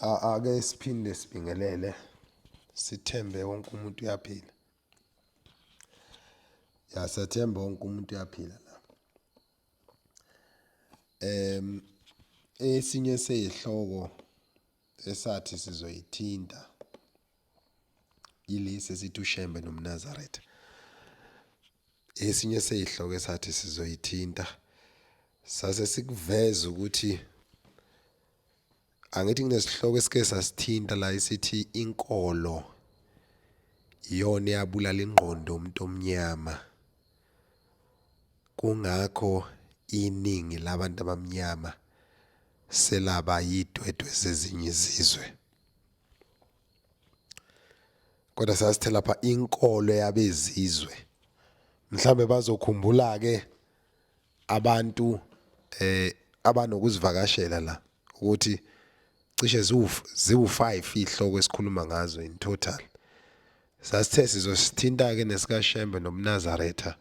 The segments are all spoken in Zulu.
Ake siphinde sibingelele, sithembe wonke umuntu uyaphila. Ya, siyathemba wonke umuntu uyaphila la. Esinye seyihloko esathi sizoyithinta. yilesi esithi uShembe nomNazaretha. Esinye sezihloko esathi sizoyithinta sase sikuveza ukuthi angithi kunesihloko esike sasithinta la isithi inkolo iyona eyabulala ingqondo umuntu omnyama kungakho iningi labantu abamnyama selaba yidwedwe zezinye izizwe kodwa sasithe lapha inkolo yabezizwe mhlambe bazokhumbula ke abantu eh abanokuzivakashela la ukuthi cishe ziwu-5 ihloko esikhuluma ngazo in total sasithe sizosithinta-ke nesikashembe nomnazaretha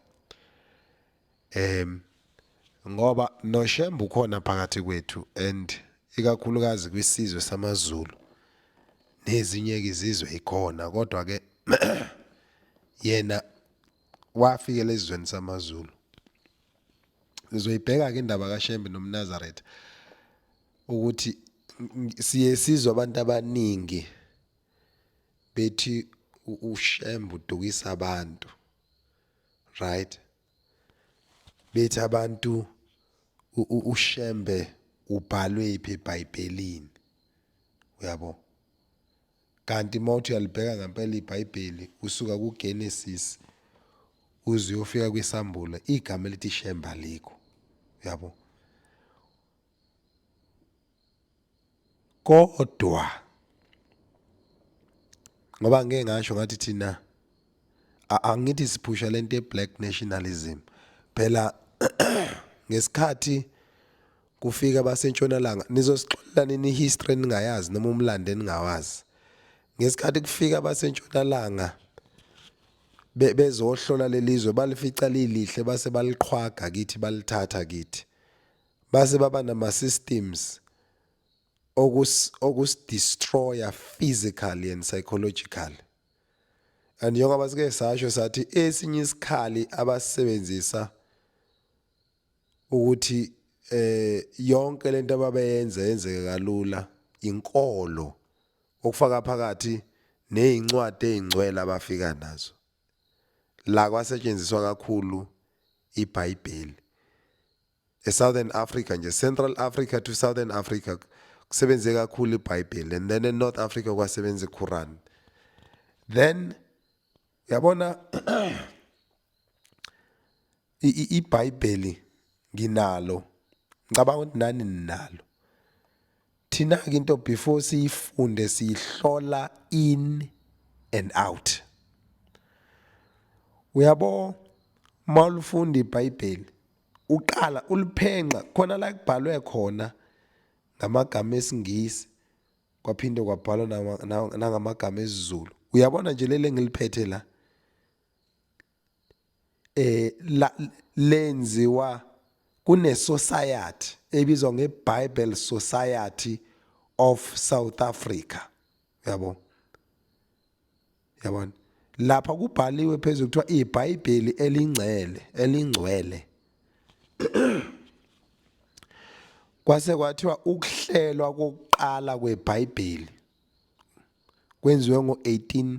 Um ngoba noShembe ukhona phakathi kwethu and ikakhulukazi kwisizwe samaZulu nezinye izizwe ikhona kodwa ke yena wafikela ezweni samaZulu sizoyibheka ke indaba kaShembe nomNazaretha ukuthi siye sizwa abantu abaningi bethi uShembe udukisa abantu right bethi abantu ushembe ubhalwe iphi eBhayibhelini uyabo kanti mawuthi uyalibheka ngempela iBhayibheli usuka kuGenesis uze uyofika kwiSambulo igama elithi shembe alikho uyabo kodwa ngoba ngeke ngasho ngathi thina angithi siphusha lento ye-black nationalism phela ngesikhathi kufika abasentshonalanga nizosixolela nini i-history eningayazi noma umlando eningawazi ngesikhathi kufika abasentshonalanga bezohlola lelizwe balifica lilihle base baliqhwaga kithi balithatha kithi base baba nama systems okus okus destroyer physically and psychologically and njengoba sike sasho sathi esinye isikhali abasebenzisa ukuthi eh yonke lento ababeyenza yenzeke kalula inkolo okufaka phakathi nezincwadi ezingcwele abafika nazo la kwasetshenziswa kakhulu iBhayibheli eSouthern Africa nje Central Africa to Southern Africa kusebenze kakhulu iBhayibheli and then eNorth Africa kwasebenza iQuran then yabona iBhayibheli nginalo ngicabanga ukuthi nani ninalo thina ke into before siyifunde siyihlola in and out uyabo mawulifunda iBhayibheli Uqala uliphenqa khona la kubhalwe khona ngamagama esiNgisi kwaphinde kwabhalwa nangamagama esiZulu. Uyabona nje leli engiliphethe la eh la lenziwa kune society ebizwa ngeBible Society of South Africa yabo yabona lapha kubhaliwe phezulu kuthiwa ibhayibheli elingcele elingcwele kwase kwathiwa ukuhlelwa kokuqala kwebhayibheli kwenziwe ngo-18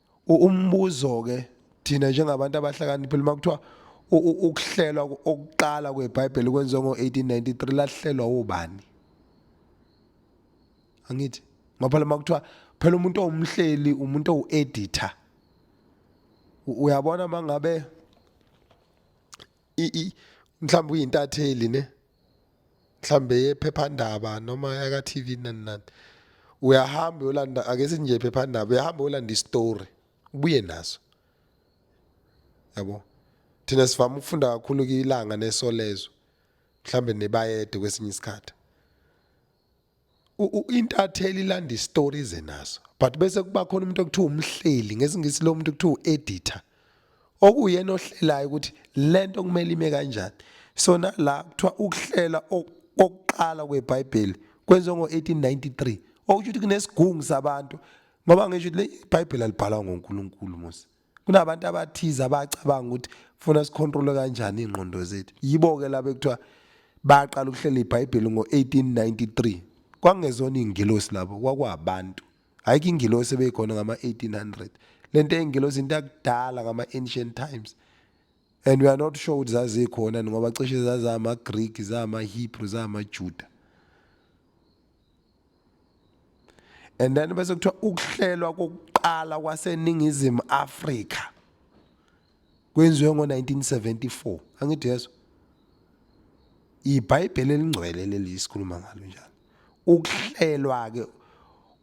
umbuzo ke thina njengabantu abahlakaniphile uma kuthiwa ukuhlelwa okuqala kwebhayibheli kwenziwe ngo-1893 lahlelwa ubani angithi ngoba lama kuthiwa phela umuntu owumhleli umuntu owu-editor uyabona uma ngabe mhlawumbe uyintatheli ne mhlambe yephephandaba noma yaka TV nani nani uyahamba uyolanda ake sinje phephandaba uyahamba uyolanda istory ubuye naso yabo thina sivama ukufunda kakhulu kilanga nesolezo mhlambe nebayede kwesinye isikhathi intatheli ilanda istory ize naso but bese kuba khona umuntu okuthiwa umhleli ngesingisi lo muntu kuthiwa u-editor okuyena ohlelayo ukuthi lento kumele ime kanjani so nala kuthiwa ukuhlela okuqala kwebhayibheli kwenziwe ngo-1893 okusho ukuthi kunesigungu sabantu ngoba ngisho ukuthi le ibhayibheli alibhalwa ngonkulunkulu mose kunabantu abathize abacabanga ukuthi funa sikhontrole kanjani ingqondo zethu yibo ke laba ekuthiwa baqala ukuhlela iBhayibheli ngo-1893 kwakungezona ingilosi labo kwakwabantu ayikho ingilosi ebeyikhona ngama-1800 le nto eyingilosi into yakudala ngama-ancient times and we are not sure ukuthi zazikhona ngoba cishe zazama-greek zama-hebrew zama-juda and then bese kuthiwa ukuhlelwa kokuqala kwaseningizimu Afrika kwenziwe ngo-1974 angithi yeso ibhayibheli elingcwele leli sikhuluma ngalo njalo ukuhlelwa-ke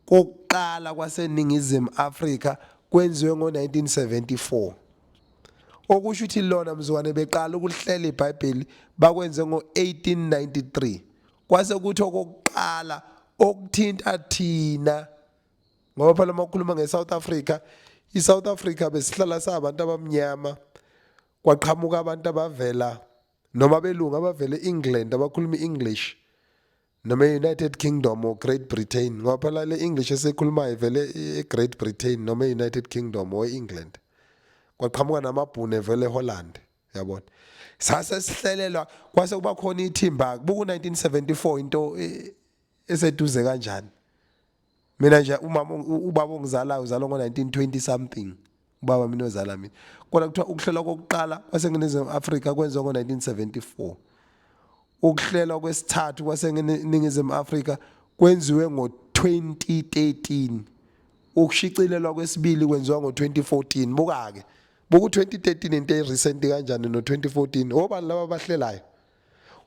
kokuqala kwaseningizimu Afrika kwenziwe ngo-1974 okusho ukuthi lona mzukwane beqala ukuhlela ibhayibheli bakwenze ngo-1893 kwase kuthi okokuqala okuthinta thina ngoba phela uma ukhuluma nge-south africa i-south africa besihlala sabantu abamnyama kwaqhamuka abantu abavela noma belungu abavela e-england abakhuluma i-english noma e-united kingdom or great britain ngoba phela le english esikhulumayo vele e-great britain noma e-united kingdom or e-england kwaqhamuka namabhunu evele eholland yabona sase sihlelelwa kwase kuba khona ithimba buku 1974 into e, eseduze kanjani mina nje umama ubaba ongizalayo uzalwa ngo 1920 something ubaba mina ozala mina kodwa kuthiwa ukuhlelwa kokuqala kwaseningizimu Afrika kwenziwa ngo 1974 ukuhlelwa kwesithathu kwaseningizimu Afrika kwenziwe ngo 2013 ukushicilelwa kwesibili kwenziwa ngo 2014 buka ke buku 2013 into e recent kanjani no 2014 obani laba bahlelayo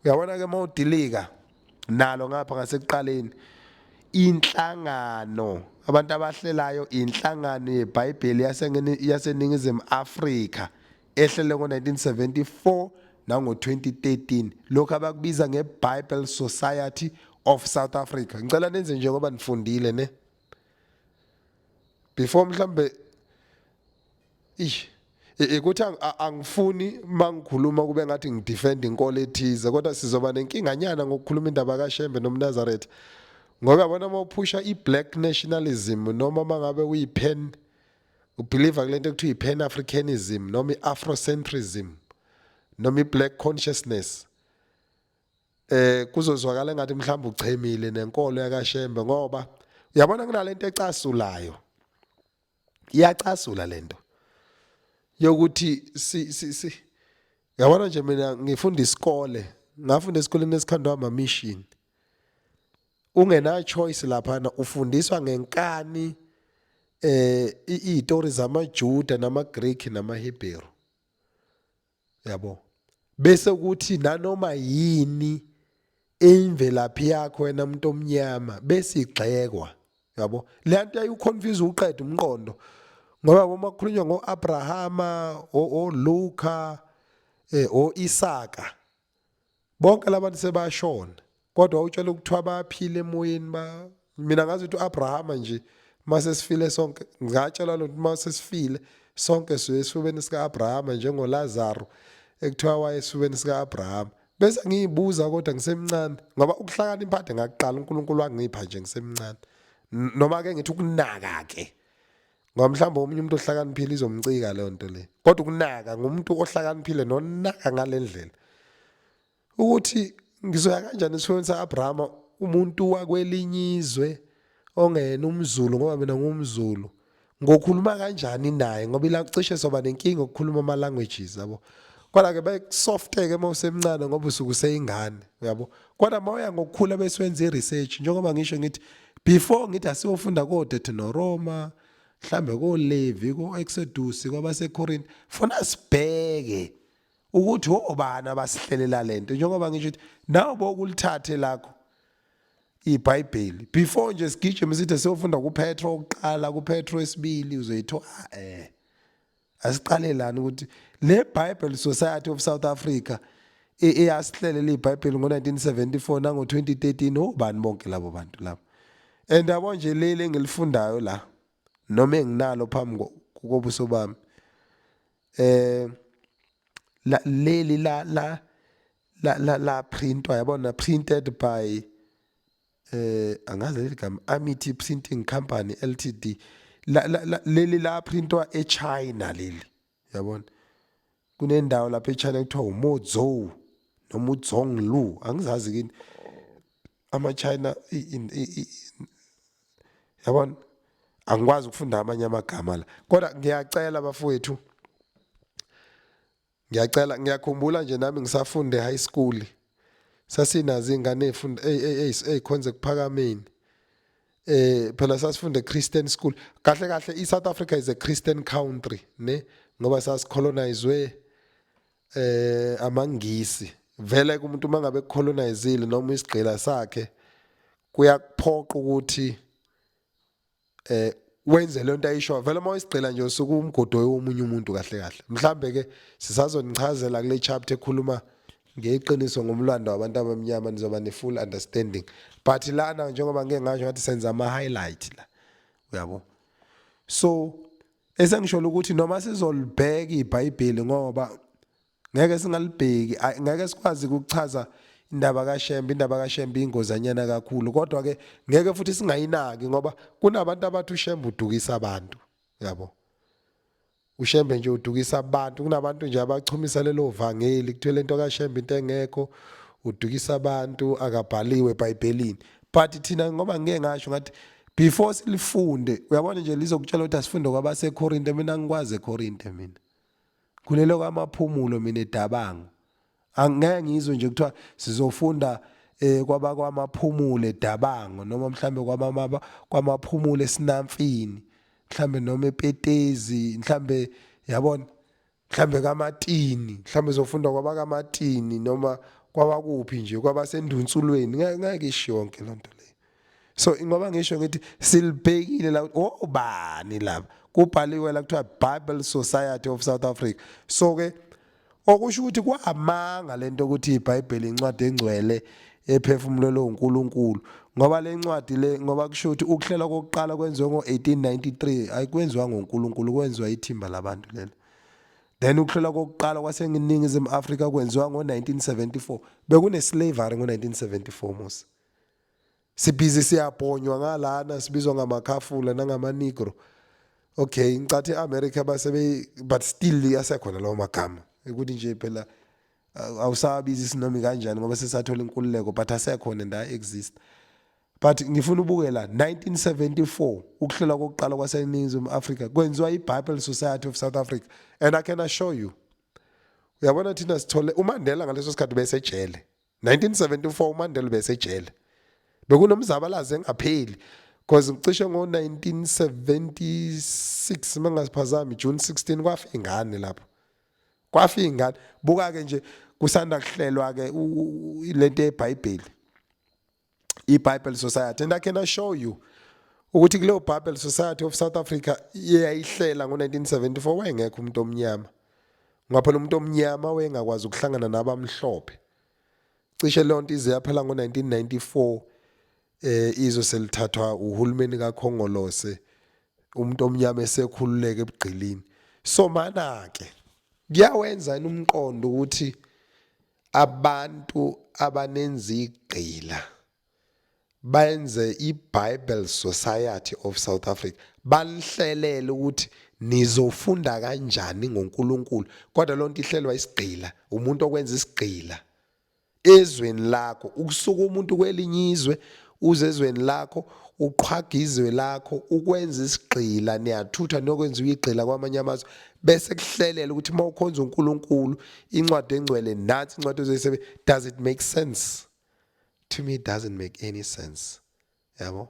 uyabona ke mawudilika nalo ngapha ngasekuqaleni inhlangano abantu abahlelayo inhlangano yeBhayibheli yaseningizimu Afrika ehlele ngo-1974 nango-2013 lokhu abakubiza nge-bible society of south africa ngicela nenze njengoba nifundile ne before mhlambe ish ikuthi angifuni mangikhuluma kube ngathi ngidefend inkolo ethize kodwa sizoba nenkinga nyana ngokukhuluma indaba kaShembe nomNazaretha ngoba yabona uma uphusha i-black nationalism noma uma ngabe uyi-pan ubhiliva kule nto ekuthiwa i-pan africanism noma i-afrocentrism noma i-black consciousness eh kuzozwakala ngathi mhlawumbe uchemile nenkolo yakashembe ngoba uyabona kunalento ecasulayo iyacasula lento yokuthi si si si yabona nje mina ngifunda isikole ngafunda esikoleni esikhandwa ama mission ungena choice lapha na ufundiswa ngenkani eh izitori zamaJuda namaGreek namaHebheru yabo bese kuthi nanoma yini eyimvelaphi yakho wena umuntu omnyama bese igxekwa yabo le nto yayiwuconfuse uqeda umqondo ngoba uma kukhulunywa ngoAbrahama oLuka eh oIsaka bonke labantu sebashona kodwa utshela ukuthiwa bayaphila emoyeni ba mina ngazi ukuthi uAbrahama nje mase sifile sonke ngatshelwa lokuthi mase sifile sonke siye esifubeni sikaAbrahama njengoLazaro ekuthiwa waye esifubeni sikaAbrahama bese ngiyibuza kodwa ngisemncane ngoba ukuhlakana imphathe ngakuqala uNkulunkulu wangipha nje ngisemncane noma ke ngithi ukunaka ke ngoba mhlawumbe omunye umuntu ohlakaniphile izomcika leyo nto le kodwa ukunaka ngumuntu ohlakaniphile nonaka ngale ndlela ukuthi ngizoya kanjani esifweni sa-abrahama umuntu wakwelinye izwe ongena umzulu ngoba mina ngumzulu ngokhuluma kanjani naye ngoba ila cishe soba nenkinga ukukhuluma ama languages yabo kodwa ke bayisofteke uma usemncane ngoba usuke useyingane yabo Kodwa mawuya ngokukhula bese wenza iresearch njengoba ngisho ngithi before ngithi asiyofunda koDethinoroma mhlambe koLevi koExodus kwabaseKorinte funa sibheke ukuthi obani abasihlelela lento njengoba ngisho ukuthi nawo bokulithathe lakho iBhayibheli before nje sigijime sithi siyofunda kuPetro oqala kuPetro esibili uzoyithola eh Asiqale lana ukuthi le Bible Society of South Africa eyasihlelela iBhayibheli ngo-1974 nango-2013 obani bonke labo bantu labo and yabo nje leli engilifundayo la noma enginalo phambi kobuso bami eh la leli la la la la la printwa yabona printed by eh angazi leli gama Amity Printing Company Ltd la, la, la leli la printwa eChina leli yabona kunendawo lapha eChina kuthiwa uMozhou noma uZhonglu angizazi kini ama China yabona angikwazi ukufunda amanye amagama la kodwa ngiyacela bafowethu ngiyacela ngiyakhumbula nje nami ngisafunde high school sasinazo ingane ezifunda ezikhonze kuphakameni eh phela sasifunde Christian school kahle kahle iSouth Africa is a Christian country ne ngoba sasicolonizwe eh amangisi vele kumuntu mangabe colonizile noma isigqila sakhe kuyakuphoqa ukuthi eh wenze lento ayisho vele uma isigcila nje usuke umgodo womunye umuntu kahle kahle mhlambe ke sisazonichazela kule chapter ekhuluma ngeqiniso ngomlando wabantu abamnyama nizoba ne full understanding but lana njengoba ngeke ngasho ngathi senza ama highlight la uyabo so esengisho ukuthi noma sizolibheka iBhayibheli ngoba Ngeke singalibheki ay ngeke sikwazi ukuchaza indaba kaShembe indaba kaShembe ingozanyana kakhulu kodwa ke ngeke futhi singayinaki ngoba kunabantu abathi uShembe udukisa abantu yabo uShembe nje udukisa abantu kunabantu nje abachumisa lelo vangeli kuthwele into kaShembe into engekho udukisa abantu akabhaliwe eBhayibhelini but thina ngoba ngeke ngasho ngathi before silifunde uyabona nje lizokutshela ukuthi asifunde kwabaseKorinte mina ngikwazi eKorinte mina Kulelo kamaphumulo mina edabango. Angeke ngizwe nje kuthiwa sizofunda eh kwabakwamaphumule dabango noma mhlambe kwamama kwamaphumule esinamfini mhlambe noma epetezi mhlambe yabona mhlambe kamatini mhlambe zofunda kwabakamatini noma kwabakuphi nje kwabasendunsulweni ngeke isho yonke lonto leyo so ingoba ngisho ngithi silibhekile la obani oh, laba kubhaliwe la kuthiwa Bible Society of South Africa so ke okusho ukuthi kwamanga lento ukuthi iBhayibheli incwadi engcwele ephefumulelwe uNkulunkulu ngoba lencwadi le ngoba kusho ukuthi ukuhlela kokuqala kwenziwe ngo1893 ayikwenziwa ngoNkulunkulu kwenziwa ithimba labantu lelo then ukuhlela kokuqala kwaseningizimu Afrika kwenziwa ngo1974 bekune slavery ngo1974 musa sibhizi siyabhonywa ngalana sibizwa ngamakhafula nangamanigro okay ngicathe e-america basebe but still asekhona lawo magama ukuthi nje phela awusabizi isinomi kanjani ngoba sesathola inkululeko but asekhona and ayi-exist but ngifuna ubuke la 1974 ukuhlola kokuqala kwaseningizimu afrika kwenziwa i-bible society of south africa and i can assure you uyabona thina sithole umandela ngaleso sikhathi besejele 1974 uMandela besejele bekunomzabalazo engapheli because cishe ngo-1976 mangasiphazami June 16 kwafa ingane lapho kwafa ingane buka ke nje kusanda kuhlelwa ke lento yeBhayibheli iBible Society and I can assure you ukuthi kuleyo Bible Society of South Africa eyayihlela ngo-1974 wayengekho umuntu omnyama ngoba phela umuntu omnyama wayengakwazi ukuhlangana nabamhlophe cishe leyo nto ize yaphela ngo-1994 eh izwe selithathwa uhulumeni kaKhongolose umuntu omnyama esekhululeke ebugqilini so mana-ke kuyawenza umqondo ukuthi Abantu abanenzigqila benze iBible Society of South Africa balihlelele ukuthi nizofunda kanjani ngoNkulunkulu kodwa lonto ihlelwa isigqila umuntu okwenza isigqila ezweni lakho ukusuka umuntu kwelinye izwe uze ezweni lakho uqhwaga izwe lakho ukwenza isigqila niyathutha nokwenza uyigqila kwamanye amazwe bese kuhlelela ukuthi uma ukhonza uNkulunkulu incwadi engcwele nathi incwadi ozoyisebe does it make sense to me it doesn't make any sense yabo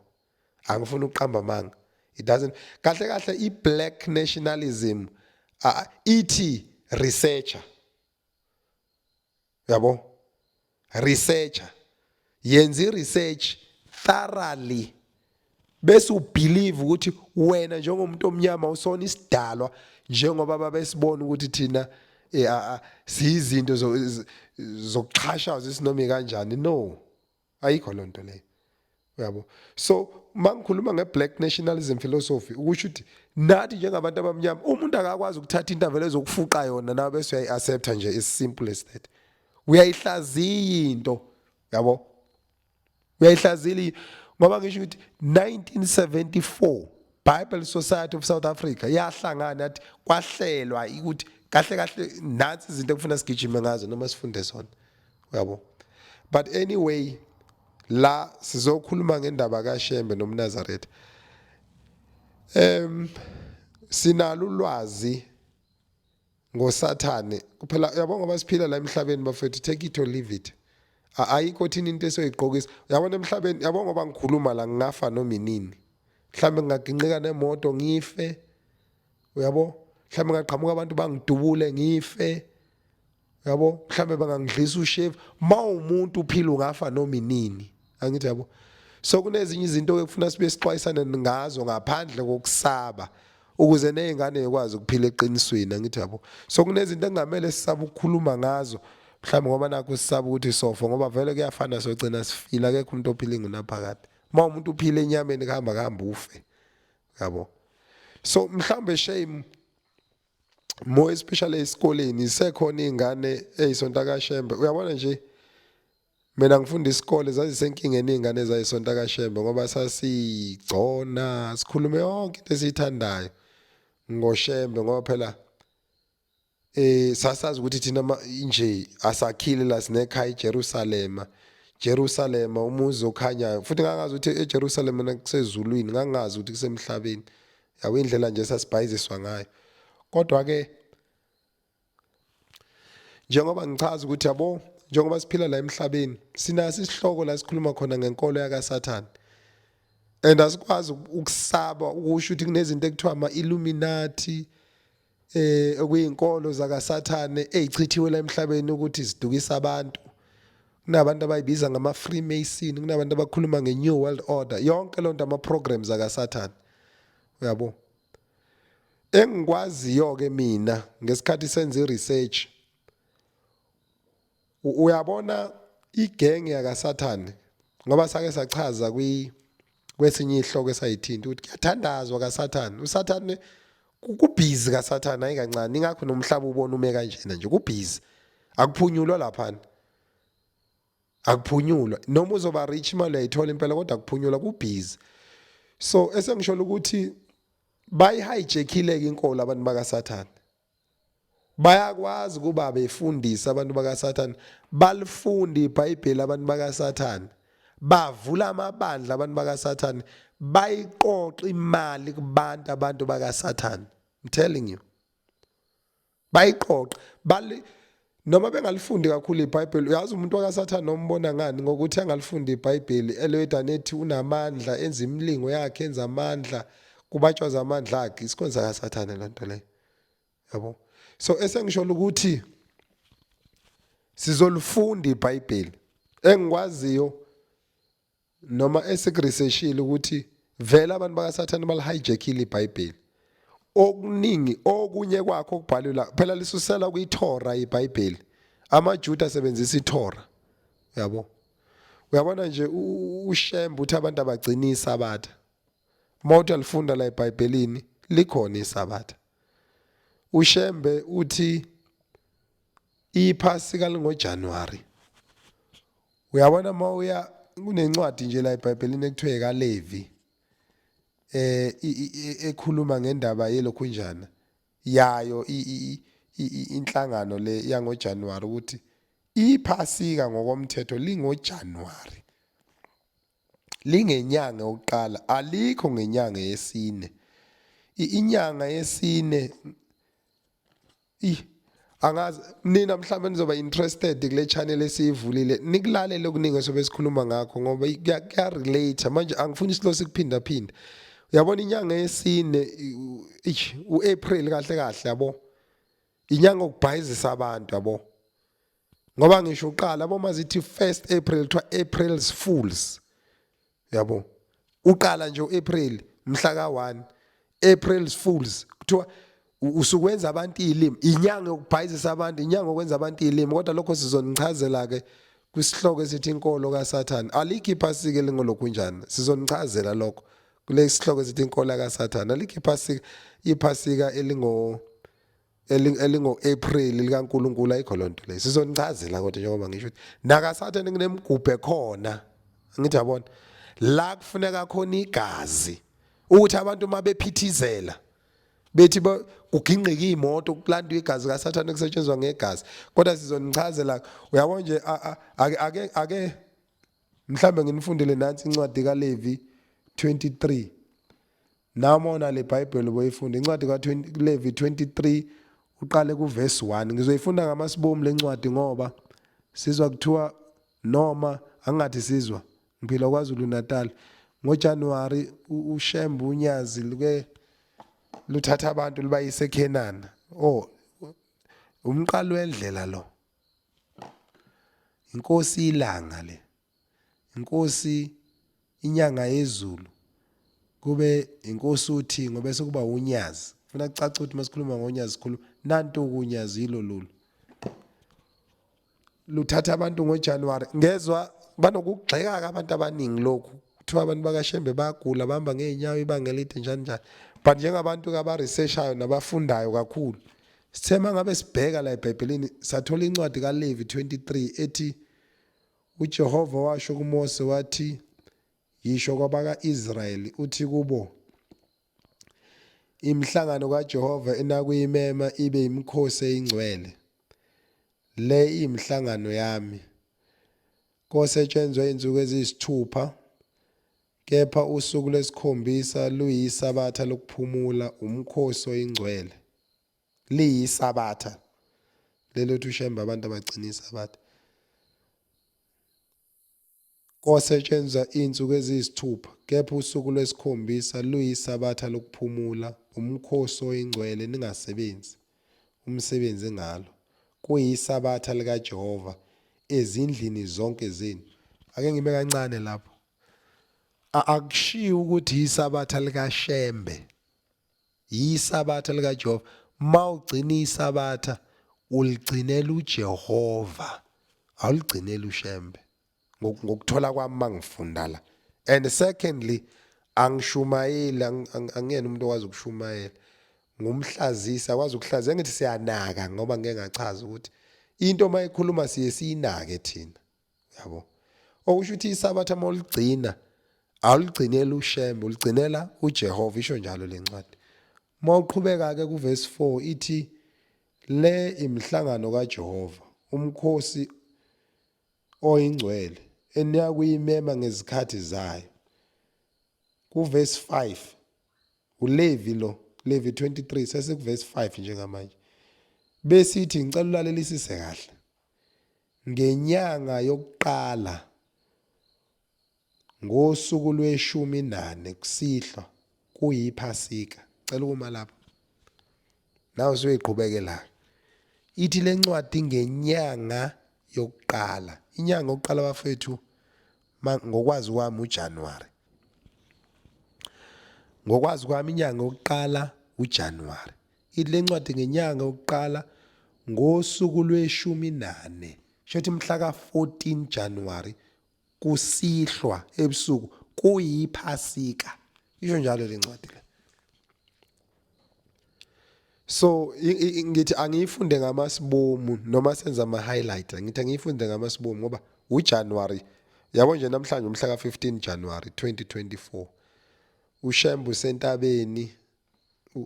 angifuni ukuqamba amanga it doesn't kahle kahle i black nationalism uh, ithi researcher uyabo researcher yenza i-research thoroughly bese ubelieve ukuthi wena njengomuntu omnyama usona isidalwa njengoba babesibona ukuthi thina eh, siyizinto zokuxhashaza isinomike kanjani no ayikho loo nto leyo uyabo so uma ngikhuluma nge-black nationalism philosophy ukusho ukuthi nathi njengabantu abamnyama umuntu akakwazi ukuthatha into avele ezokufuqa yona nawe bese uyayi-accepta nje as simple as that uyayihlaziya into yabo uyayihlaziyela ngoba ngisho ukuthi 1974 Bible Society of South Africa yahlangana yathi kwahlelwa ukuthi kahle kahle nansi izinto ekufuna sigijime ngazo noma sifunde zona uyabo but anyway la sizokhuluma ngendaba kaShembe nomNazaretha em sinalo ulwazi ngosathane kuphela uyabo ngoba siphila la emhlabeni bafethu take it or leave it ayikho thina into esoyiqokisa yabona emhlabeni yabo ngoba ngikhuluma la ngingafa noma inini mhlambe ngingaginqika nemoto ngife uyabo mhlambe ngaqhamuka abantu bangidubule ngife yabo mhlambe bangangidlisa ushave mawumuntu uphila ungafa noma inini angithi yabo so kunezinye izinto ekufuna sibe sixwayisane ngazo ngaphandle kokusaba ukuze nezingane zikwazi ukuphila eqinisweni angithi yabo so kunezinto engamele sisaba ukukhuluma ngazo mhlawumbe ngoba nakho sisaba ukuthi sofa ngoba vele kuyafana sogcina sifile akekho umuntu ophila ingunaphakade uma umuntu uphile enyameni kuhamba kuhamba ufe yabo so mhlawumbe shame more especially esikoleni isekhona izingane ezisonta kaShembe uyabona nje mina ngifunda isikole zazisenkingeni izingane zayisonta kaShembe ngoba sasigcona sikhulume yonke into esiyithandayo ngoShembe ngoba phela eh sasazi ukuthi thina nje asakhile la sinekhaya eJerusalem Jerusalem umuzi okhanyayo futhi ngangazi ukuthi eJerusalem nakusezulwini ngangazi ukuthi kusemhlabeni yawo indlela nje sasibhayiziswa ngayo kodwa ke njengoba ngichaza ukuthi yabo njengoba siphila la emhlabeni sinaso isihloko la sikhuluma khona ngenkolo yakaSathane and asikwazi ukusaba ukusho ukuthi kunezinto ekuthiwa ama-illuminati eh okuyinkolo zakasathane ezichithiwe la emhlabeni ukuthi zidukisa abantu kunabantu abayibiza ngama Freemason kunabantu abakhuluma nge New World Order yonke lonto ama programs akasathane uyabo engikwaziyo ke mina ngesikhathi senza research Uyabona igenge yakaSathane ngoba sake sachaza kwi kwesinye ihloko esayithinta ukuthi kuyathandazwa kaSathane uSathane kubhizi kaSathane ayikancane ingakho nomhlaba ubona ume kanjena nje kubhizi akuphunyulwa laphana akuphunyulwa noma uzoba rich imali uyayithola impela kodwa kuphunyulwa kubhizi so esengisho ukuthi bayihijackile ke inkolo abantu bakaSathane Bayakwazi ukuba befundise abantu bakaSathane, balifunda iBhayibheli abantu bakaSathane. Bavula amabandla abantu bakaSathane, bayiqoqa imali kubantu abantu bakaSathane. I'm telling you. Bayiqoqa, bali Noma bengalifundi kakhulu iBhayibheli, uyazi umuntu wakaSathane ombona ngani? Ngokuthi angalifundi iBhayibheli, eloyeda nethi unamandla, enza imilingo yakhe, enza amandla, kubatshwaza amandla akhe. Isikhonzi sakaSathane loo nto leyo. Yabo? So esengisho ukuthi sizolifunda iBhayibheli. Engikwaziyo noma esikuresearchile ukuthi vele abantu bakasathane balihijackile ibhayibheli okuningi okunye kwakho okubhalwe la phela lisusela kwiThora ibhayibheli amaJuda asebenzisa iThora yabo uyabona nje ushembe uthi abantu abagcina isabatha uma uthi alifunda la ebhayibhelini likhona isabatha ushembe uthi Iphasika lingoJanuwari. Uyabona uma uya kunencwadi nje la eBhayibhelini ekuthiwa ekaLevi eh ekhuluma ngendaba yelokhunjana yayo inhlangano le yangoJanuwari ukuthi iphasika ngokomthetho lingoJanuwari lingenyanga yokuqala alikho ngenyanga yesine inyanga yesine Ih angazi nina mhlawumbe nizoba interested kule channel esiyivulile nikulalele okuningi esobe sikhuluma ngakho ngoba kuya relate manje angifuni isilo sikuphinda phinda uyabona inyanga yesine uApril kahle kahle yabo inyanga okubhayizisa abantu yabo ngoba ngisho uqala uma zithi first april kuthiwa april's fools yabo uqala nje u-april mhla ka-one april's fools kuthiwa usukwenza abantu iy'limi inyanga yokubhayizisa abantu inyanga okwenza abantu iy'limi kodwa lokho sizonichazela-ke kwisihloko esithi inkolo kasathane alikho iphasike lingolokhunjani sizonichazela lokho kule sihloko esithi inkolo kasathane alikho iphasika iphasika elingo elingo-april likankulunkulu ayikho loo nto leyo sizonichazela kodwa njengoba ngisho ukuthi nakasathane kunemgubhe khona ngithi yabona la kufuneka khona igazi ukuthi abantu uma bephithizela bethi kugingqika iy'moto kulandwa igazi kasathane kusetshenziswa ngegazi kodwa sizonichazela uyabo nje ake ake mhlawumbe nginifundele nansi incwadi kalevi 23 Nami ona le Bible boyifunda incwadi ka Levi 23 uqale ku verse 1. Ngizoyifunda ngamasibomu lencwadi ngoba sizwa kuthiwa noma angathi sizwa ngiphila kwaZulu Natal. Ngo January uShembe uNyazi luke luthatha abantu libayise eKhenana. Oh umqalo wendlela lo. Inkosi ilanga le. inkosi inyanga yezulu kube inkosi uthi ngoba sekuba unyazi funa kucaca ukuthi masikhuluma ngonyazi sikhulu nanto kunyazi yilo lolu luthatha abantu ngoJanuary ngezwa banokugxeka abantu abaningi lokhu kuthiwa abantu bakashembe bayagula bahamba ngeenyawo ibanga elide njani njani but njengabantu ke abaresearchayo nabafundayo kakhulu sithema ngabe sibheka la ebhayibhelini sathola incwadi kalevi 23 ethi UJehova washo kuMose wathi, Yisho kwabaka-Israyeli uthi kubo, Imihlangano kaJehova enakuyimema ibe yimikhosi eyingcwele. Le iyimihlangano yami. Kosetshenzwa izinsuku eziyisithupha, kepha usuku lwesikhombisa luyisabatha lokuphumula, umkhosi oyingcwele. liyisabatha lelo uthi ushembe abantu abagcina isabatha kosetshenzwa izinsuku eziyisithupha kepha usuku lwesikhombisa luyisabatha lokuphumula umkhosi oyingcwele ningasebenzi umsebenzi ngalo kuyisabatha likaJehova ezindlini zonke zenu ake ngime kancane lapho akushiyi ukuthi isabatha likaShembe Yisabatha likaJehova. Uma ugcina isabatha uligcinela uJehova. Awuligcineli uShembe. Ngokuthola kwami mangifunda la. And secondly angishumayeli angiyena umuntu owazi ukushumayela. Ngumhlazisa akwazi ukuhlaza engithi siyanaka ngoba ngeke ngachaza ukuthi into mayikhuluma siye siyinake thina. yabo okusho ukuthi isabatha uma uligcina awuligcineli ushembe uligcinela ujehova isho njalo le ncwadi uma uqhubeka-ke kuvesi 4 ithi le imihlangano kajehova umkhosi oyingcwele eniyakuyimema ngezikhathi zayo kuvesi 5 ulevi lo levi 23 sesikuvesi 5 njengamanje besithi ngicela ulalelise kahle Ngenyanga yokuqala, ngosuku lweshumi nane kusihlwa kuyiphasika. Cela ukuma lapho. Nawe siyoyiqhubekela. Ithi lencwadi ngenyanga yokuqala. Inyanga yokuqala bafethu Ngokwazi kwami uJanuary. Ngokwazi kwami inyanga yokuqala uJanuary. Ithi lencwadi ngenyanga yokuqala ngosuku lweshumi nane. Shothi mhla ka-14 January kusihlwa ebusuku kuyiphasika. Isho njalo lencwadi le. so ngithi angiyifunde ngamasibomu noma senza ama highlight ngithi angiyifunde ngamasibomu ngoba u January yabo nje namhlanje umhla ka 15 January 2024 uShembu sentabeni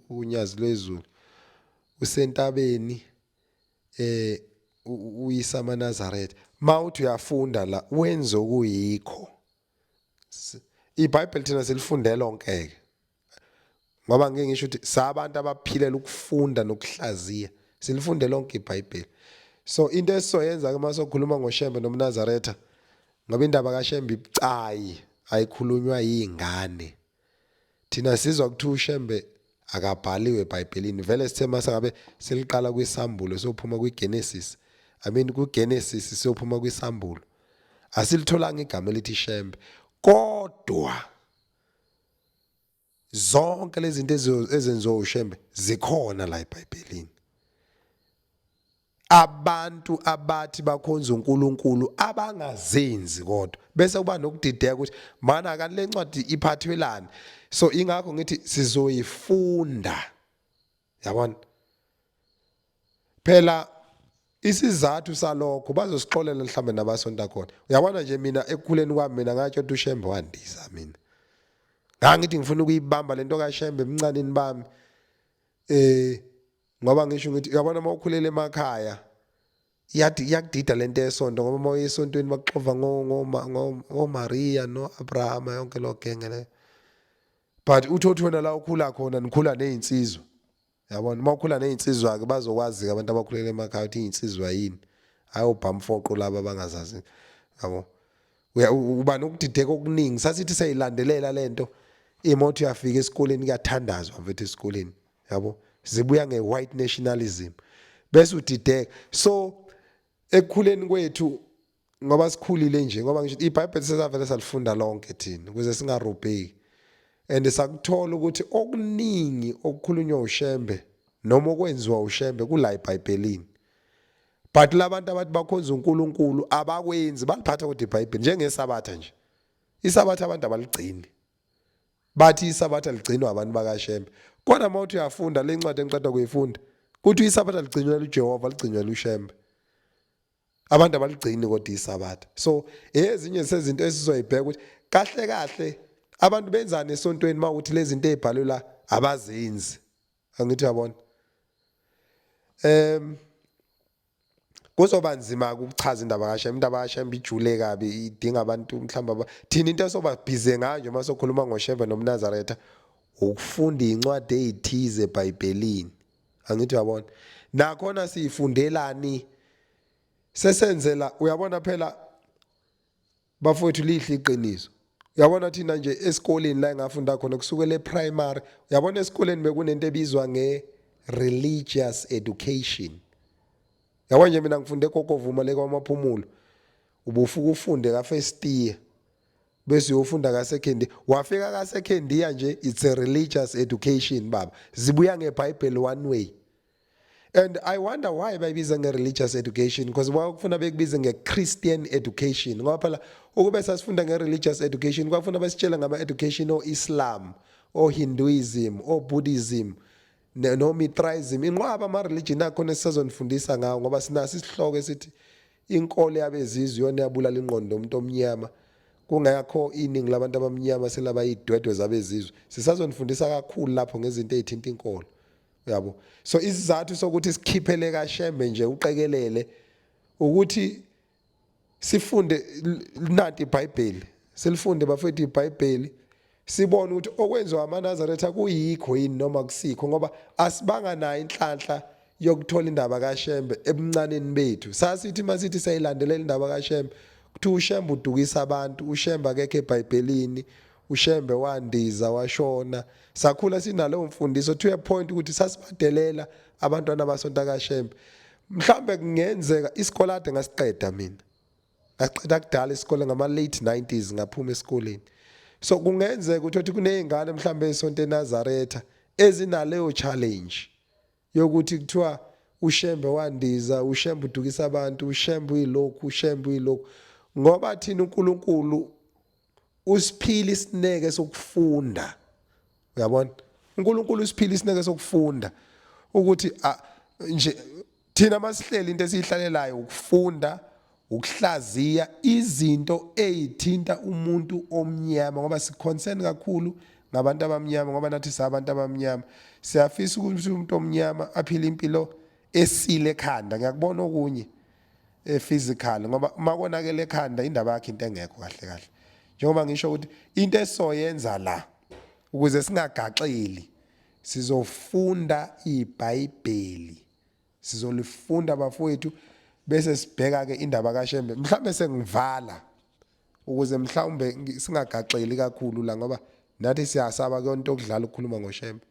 unyazi lwezulu usentabeni eh uyisa amaNazaretha mawuthi uyafunda la wenze okuyikho iBhayibheli thina silifundela onkeke ngoba ngike ngisho ukuthi sabantu abaphilela ukufunda nokuhlaziya silifunde lonke ibhayibheli so into esizoyenza ke uma sokhuluma ngoshembe nomnazaretha ngoba indaba kashembe ibucayi ayikhulunywa yingane thina sizwa ukuthi ushembe akabhaliwe ebhayibhelini vele sithe mase ngabe siliqala kwisambulo sophuma kwigenesis i mean kugenesis siyophuma kwisambulo asilitholanga igama elithi shembe kodwa zonke lezi zinto ezenziwa uShembe zikhona la eBhayibhelini abantu abathi bakhonza uNkulunkulu abangazenzi kodwa bese kuba nokudideka ukuthi mana kanti lencwadi iphathwelani so ingakho ngithi sizoyifunda yabona phela isizathu salokho bazosixolela mhlawumbe nabasonta khona uyabona nje mina ekukhuleni kwami mina ngatsho ukuthi ushembe wandisa mina ngangithi ngifuna ukuyibamba lento kashembe emncanini bami eh ngoba ngisho ngithi uyabona uma ukhulele emakhaya yathi yakudida lento yesonto ngoba uma uyesontweni bakuxova ngomaria no-abrahama yonke loo genge leyo but uthi othi wena la ukhula khona nikhula ney'nsizwa yabona uma ukhula ney'nsizwa-ke bazokwazi-ke abantu abakhulele emakhaya ukuthi iy'nsizwa yini hhayi obhamfoqo laba abangazazi yabo uba nokudideka okuningi sasithi seyilandelela le nto imoto uyafika esikoleni kuyathandazwa mfethu esikoleni yabo zibuya nge white nationalism bese udideka so ekukhuleni kwethu ngoba sikhulile nje ngoba ngisho iBhayibheli sesavele salifunda lonke thina ukuze singarubheki and sakuthola ukuthi okuningi okukhulunywa uShembe noma okwenziwa uShembe kula eBhayibhelini but labantu abathi bakhonza uNkulunkulu abakwenzi baliphatha kodwa iBhayibheli njengesabatha nje isabatha abantu abaligcini bathi isabatha ligcinwa abantu bakashembe kodwa uma uthi uyafunda le ncwadi engiqeda kuyifunda kuthi isabatha ligcinwela ujehova ligcinwela ushembe abantu abaligcini kodwa isabatha so ezinye sezinto esizoyibheka ukuthi kahle kahle abantu benzani esontweni uma ukuthi lezi zinto ezibhalwe la abazenzi angithi yabona em kuzoba nzima ukuchaza indaba kasha indaba kasha imbijule kabi idinga abantu mhlawumbe thina into esoba busy ngayo nje uma sokhuluma ngoshembe nomnazaretha ukufunda incwadi ezithize eBhayibhelini angithi uyabona nakhona siyifundelani sesenzela uyabona phela Bafowethu lihle iqiniso. Uyabona thina nje esikoleni la engafunda khona kusukela eprimary, uyabona esikoleni bekunento ebizwa nge religious education. Yabo nje mina ngifunde eGogovuma le kwaMaphumulo. Ubufuka ufunde ka first year bese uyofunda ka second year. Wafika ka second year nje it's a religious education baba. Zibuya ngeBhayibheli one way. and i wonder why bayibiza nge-religious education because kwakufuna bekubize nge-christian education ngoba phela ukube sasifunda nge-religious education kwakufuna basitshele ngama-education o-islam o-hinduism o-buddhism no-mithraism inqwaba ama-religion akhona esisazonifundisa ngawo ngoba sinaso isihloko esithi inkolo yabezizwe yona yabulala ingqondo umuntu omnyama kungakho iningi labantu abamnyama selaba idwedwe zabezizwe sisazonifundisa kakhulu lapho ngezinto ezithinta inkolo yabo so isizathu sokuthi sikhiphele kashembe nje uqekelele ukuthi sifunde nanti iBhayibheli silifunde bafethu iBhayibheli sibone ukuthi okwenziwa amaNazaretha kuyikho yini noma kusikho ngoba asibanga nayo inhlanhla yokuthola indaba kaShembe ebuncaneni bethu sasithi masithi sayilandelela indaba kaShembe kuthi uShembe udukisa abantu uShembe akekho eBhayibhelini uShembe wandiza washona sakhula sinaleyo mfundiso to a point ukuthi sasibadelela abantwana basonta kaShembe mhlambe kungenzeka isikole ade ngasiqeda mina ngaqeda kudala isikole ngama late 90s ngaphuma esikoleni so kungenzeka ukuthi othi kunezingane mhlambe esonto eNazaretha ezinaleyo challenge yokuthi kuthiwa uShembe wandiza, uShembe udukisa abantu, uShembe uyilokhu, uShembe uyilokhu. Ngoba thina uNkulunkulu usiphila isineke sokufunda. Uyabona? uNkulunkulu usiphila isineke sokufunda ukuthi nje thina masihleli into esiyihlalelayo ukufunda Ukuhlaziya izinto eyithinta umuntu omnyama ngoba siconcern kakhulu ngabantu abamnyama ngoba nathi sabantu abamnyama siyafisa ukuthi umuntu omnyama aphile impilo esile ekhanda ngiyakubona okunye e physical ngoba uma konakele ekhanda indaba yakhe into engekho kahle kahle njengoba ngisho ukuthi into esoyenza la ukuze singagaxeli sizofunda iBhayibheli Sizolifunda bafowethu bese sibheka ke indaba kaShembe. Mhlambe sengivala ukuze mhlawumbe singagaxeli kakhulu la ngoba nathi siyasaba kuyonto okudlala ukukhuluma ngoShembe.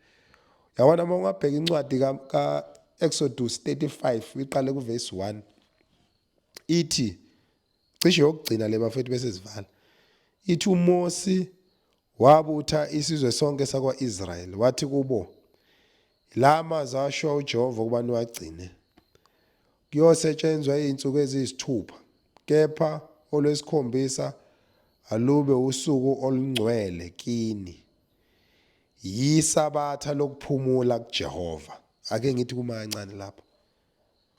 Yabona uma ungabheka incwadi ka, ka Exodus 35 iqale kuverse 1 ithi cishe yokugcina le bafethu bese sivala ithi uMosi wabutha isizwe sonke sakwa-Israyeli wathi kubo La mazwi ashiwa uJehova ukuba niwagcine. Kuyosetshenzwa izinsuku eziyisithupha, kepha olwesikhombisa alube usuku olungcwele kini. Yisabatha lokuphumula kuJehova. Ake ngithi kumancane lapho.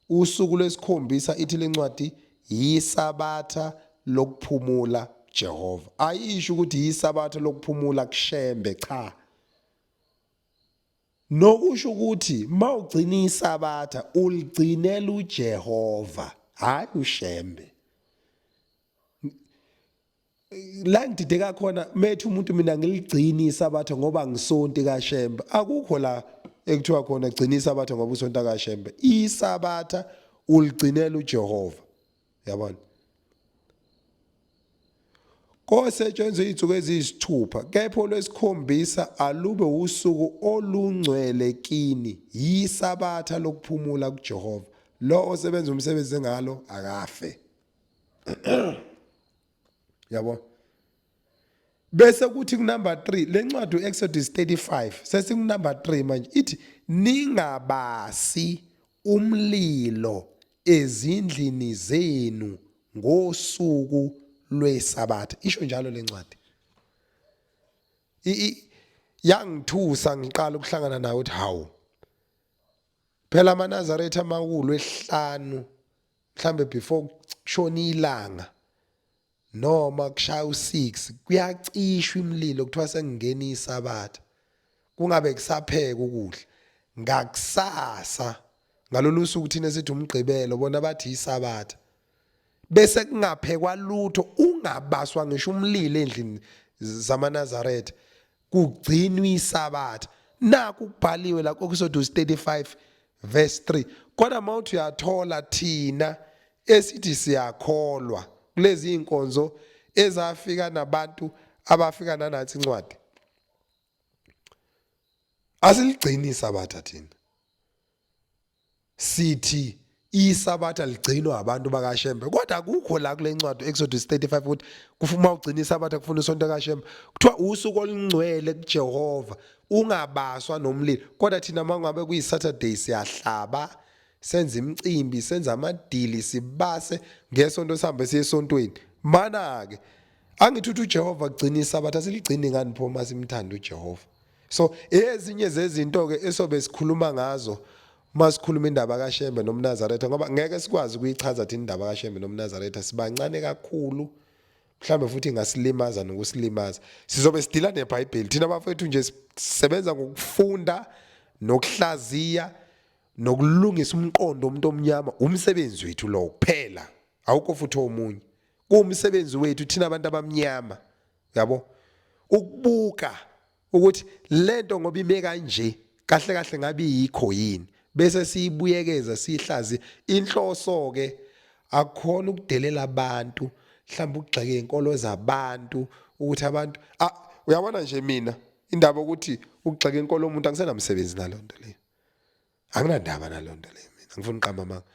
Usuku lwesikhombisa ithi lencwadi yisabatha lokuphumula Jehova. Ayisho ukuthi yisabatha lokuphumula kushembe cha. Nokusho ukuthi mawugcina isabatha uligcinela uJehova hayi ushembe. La ngidideka khona methi umuntu mina ngiligcini isabatha ngoba ngisonti kaShembe. Akukho la ekuthiwa khona gcina isabatha ngoba usonta kaShembe. Isabatha uligcinela uJehova. yabona kosetshenzwe izinsuku eziyisithupha kepha olwesikhombisa alube usuku olungcwele kini yisabatha lokuphumula kuJehova lo osebenza umsebenzi ngalo akafe yabo bese kuthi kunumber 3 le ncwadi uExodus 35 sesikunumber 3 manje ithi ningabasi umlilo ezindlini zenu ngosuku lwesabatha isho njalo le ncwadi yangithusa ngiqala ukuhlangana nawe uthi hawu phela amanazaretha amakhulu ehlanu mhlambe before kushona ilanga Noma kushaya u-6 kuyacishwa imlilo kuthiwa sekungena isabatha. Kungabe kusapheka ukudla. Ngakusasa ngalolu suku thina sithi umgqibelo bona bathi isabatha. Bese kungaphekwa lutho ungabaswa ngisho umlilo endlini zamanazaretha. kugcinwa isabatha naku kubhaliwe la kokusoduzi 35 verse 3 kodwa mawuthi uyathola thina esithi siyakholwa kulezi inkonzo ezafika nabantu abafika nanathi incwadi asiligcini isabatha thina sithi isabatha ligcinwa abantu bakashembe kodwa akukho la kule ncwadi exodu 35 ukuthi kufuma ugcina isabatha kufuna usonto kashembe kuthiwa usuku olungcwele kujehova ungabaswa nomlilo kodwa thina uma ngabe kuyi-saturday siyahlaba senza imicimbi senza amadili sibase ngesonto sihambe siye esontweni mana-ke angithi uthi ujehova kugcina isabatha siligcini ngani pho uma simthanda ujehova so ezinye zezinto ke esobe sikhuluma ngazo masikhuluma indaba kaShembe nomNazaretha ngoba ngeke sikwazi ukuyichaza thina indaba kaShembe nomNazaretha sibancane kakhulu mhlawumbe futhi ingasilimaza nokusilimaza sizobe sidila neBhayibheli thina bafethu nje sisebenza ngokufunda nokuhlaziya nokulungisa umqondo umuntu omnyama umsebenzi wethu lo kuphela awukho futhi omunye kuwumsebenzi wethu thina abantu abamnyama yabo ukubuka ukuthi lento ngoba ime kanje kahle kahle ngabe yikho yini bese siyibuyekeza sihlazi inhloso ke akukhona ukudelela abantu mhlawumbe ukugxeka inkolo zabantu ukuthi abantu ah uyabona nje mina indaba ukuthi ukugxeka inkolo umuntu angisenamsebenzi nalonto leyo anginandaba nalonto leyo mina ngifuna uqamba manga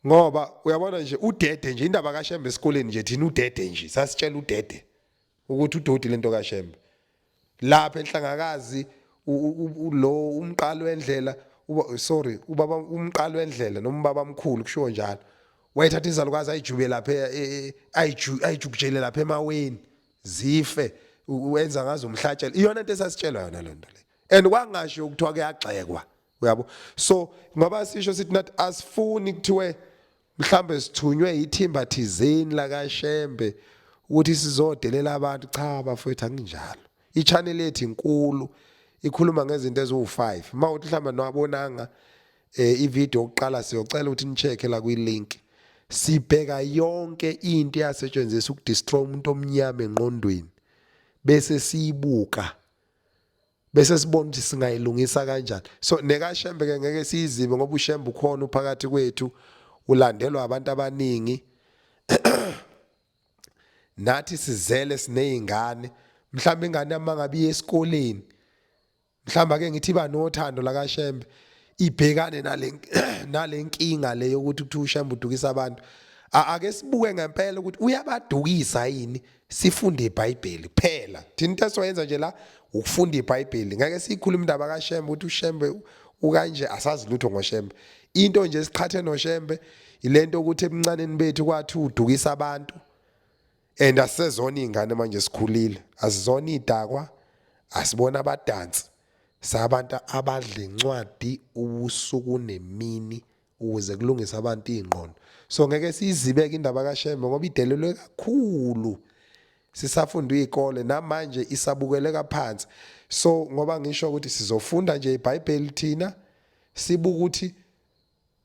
ngoba uyabona nje udede nje indaba kaShembe esikoleni nje thina udede nje sasitshela udede ukuthi udodi lento kaShembe lapha enhlangakazi lo umqalo wendlela uba sorry ubaba umqalo wendlela noma ubaba omkhulu kushiwo njalo wayethatha izalukazi ayijube lapha e, e, e, ayiju ayijukujele lapha emaweni zife wenza ngazo umhlatshelo iyona into esasitshelwa yona lento le and kwangasho ukuthiwa kuyagxekwa uyabo so ngoba sisho sithi nathi asifuni kuthiwe mhlambe sithunywe yithimba thizeni la kaShembe ukuthi sizodelela abantu cha bafowethu anginjalo ichannel yethu inkulu ikhuluma ngezinto eziwu5 mawuthi mhlamba nowabonanga eh ivideo oqala siyocela ukuthi nicheke la kwi link sibheka yonke into eyasetshenziswa ukudestroy umuntu omnyama enqondweni bese siyibuka bese sibona ukuthi singayilungisa kanjani so nekashembe ke ngeke siyizibe ngoba ushembe ukhona uphakathi kwethu ulandelwa abantu abaningi nathi sizele sinezingane mhlawumbe ingane yamangabe iye esikoleni mhlawumbe ake ngithi iba nothando lakashembe ibhekane nale nalenkinga le yokuthi kuthiwa ushembe udukisa abantu ake sibuke ngempela ukuthi uyabadukisa yini sifunde ibhayibheli kuphela thina into esizoyenza nje la ukufunda ibhayibheli ngeke siyikhuluma indaba kashembe ukuthi ushembe ukanje asazi lutho ngoshembe into nje siqhathe noshembe ilento ukuthi ebuncaneni bethu kwathi udukisa abantu and asizona izingane manje sikhulile asizona idakwa asibona abadansi sabantu abadla incwadi ubusuku nemini ukuze kulungise abantu iy'ngqondo so ngeke siyizibeke indaba kashembe ngoba idelelwe kakhulu sisafunda iy'kole namanje isabukeleka phansi so ngoba ngisho ukuthi sizofunda nje ibhayibheli thina sibuke ukuthi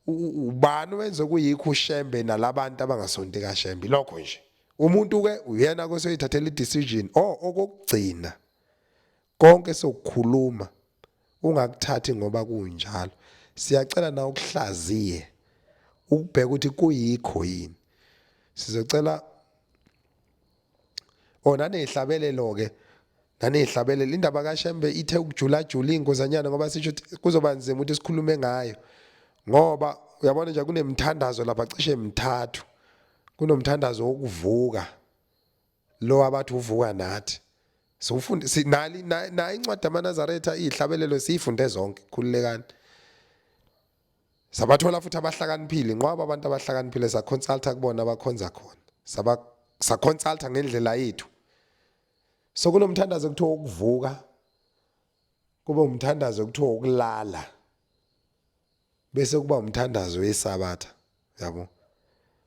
ubani wenze kuyikho ushembe nalabantu abangasonti kashembe lokho nje umuntu ke uyena kosoyithathela i-decision o okokugcina Konke sokukhuluma ungakuthathi ngoba kunjalo. Siyacela na ukuhlaziye ukubheka ukuthi kuyikho yini. Sizocela Oh nanehlabelelo ke nanehlabelelo indaba kaShembe ithe ukujula jula ingozanyana ngoba sisho ukuthi kuzoba nzima ukuthi sikhulume ngayo ngoba uyabona nje kunemithandazo lapha cishe emithathu kunomthandazo wokuvuka Lo abathi uvuka nathi. Siwufunde sinali nayi incwadi amaNazaretha izihlabelelo siyifunde zonke khululekani. Sabathola futhi abahlakaniphile nqwaba abantu abahlakaniphile sa consulta kubona abakhonza khona. Saba sa consulta ngendlela yethu. So kunomthandazo okuthiwa ukuvuka kube umthandazo okuthiwa ukulala. bese kuba umthandazo wesabatha yabo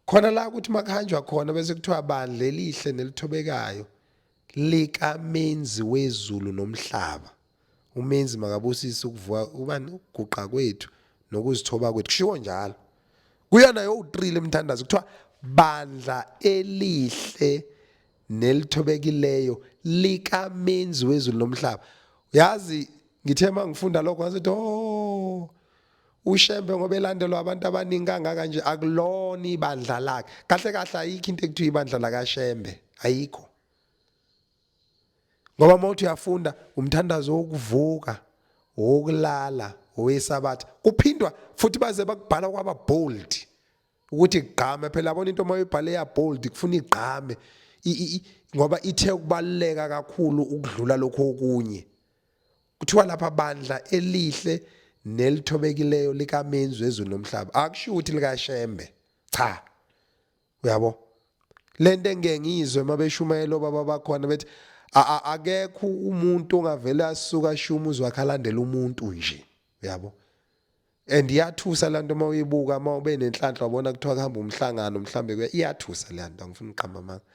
khona la ukuthi makuhanjwa khona bese kuthiwa bandla elihle nelithobekayo likamenzi wezulu nomhlaba umenzi makabusise ukuvuka ubani ukuguqa kwethu nokuzithoba kwethu kushiwo njalo kuyona yo-3 lemthandazo kuthiwa bandla elihle nelithobekileyo likamenzi wezulu nomhlaba yazi ngithe uma ngifunda lokho ngasethi oh ushembe ngoba elandelwa abantu abaningi kangaka nje akulona ibandla lakhe kahle kahle ayikho into ekuthiwa ibandla lakashembe ayikho ngoba uma uthi uyafunda umthandazo wokuvuka wokulala owesabatha kuphindwa futhi baze bakubhala kwaba bold ukuthi igqame phela yabona into uma uyibhale ya bold kufuna igqame ngoba ithe ukubaluleka kakhulu ukudlula lokho okunye kuthiwa lapha bandla elihle nelithobekileyo likamenzi wezulu nomhlaba akusho ukuthi likashembe cha uyabo lento engeke ngizwe mabeshumayela obaba bakhona bethi akekho umuntu ongavele asuka shuma uzwakhalandela umuntu nje uyabo and iyathusa lanto uma uyibuka uma ube nenhlanhla wabona kuthiwa kuhamba umhlangano mhlambe kuya iyathusa lanto angifuni uqamba amanga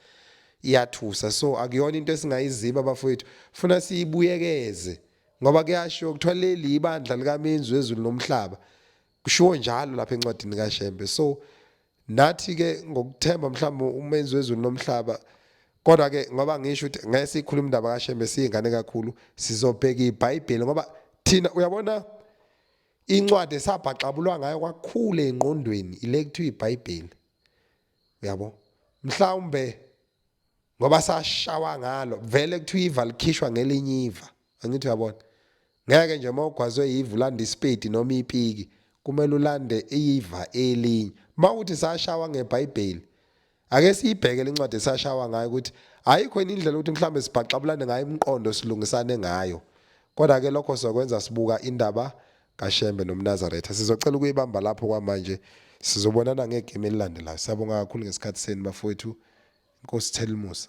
iyathusa so akuyona into esingayiziba abafowethu funa siyibuyekeze ngoba kuyashiwo kuthiwa leli ibandla likamenzi wezulu nomhlaba kushiwo njalo lapha encwadini kaShembe so nathi ke ngokuthemba mhlawumbe umenzi wezulu nomhlaba kodwa ke ngoba ngisho ukuthi ngeke sikhulume indaba kaShembe siyingane kakhulu sizobheka iBhayibheli ngoba thina uyabona incwadi esabhaxabulwa ngayo kwakhulu engqondweni ile kuthiwa iBhayibheli uyabo mhlawumbe ngoba sashawa ngalo vele kuthiwa iva likhishwa ngelinye iva angithi uyabona ngeke nje uma ugwazwe yiva ulanda isipedi noma ipiki kumele ulande iva elinye uma uthi sashawa ngebhayibheli Ake siyibheke le ncwadi esashawa ngayo ukuthi ayikho yini indlela ukuthi mhlawumbe sibhaxabulane ngayo imiqondo silungisane ngayo. Kodwa-ke lokho sizokwenza sibuka indaba kaShembe nomNazaretha. Sizocela ukuyibamba lapho kwamanje. Sizobonana ngegame elilandelayo. Siyabonga kakhulu ngesikhathi senu bafowethu. Inkosi Thelimusa.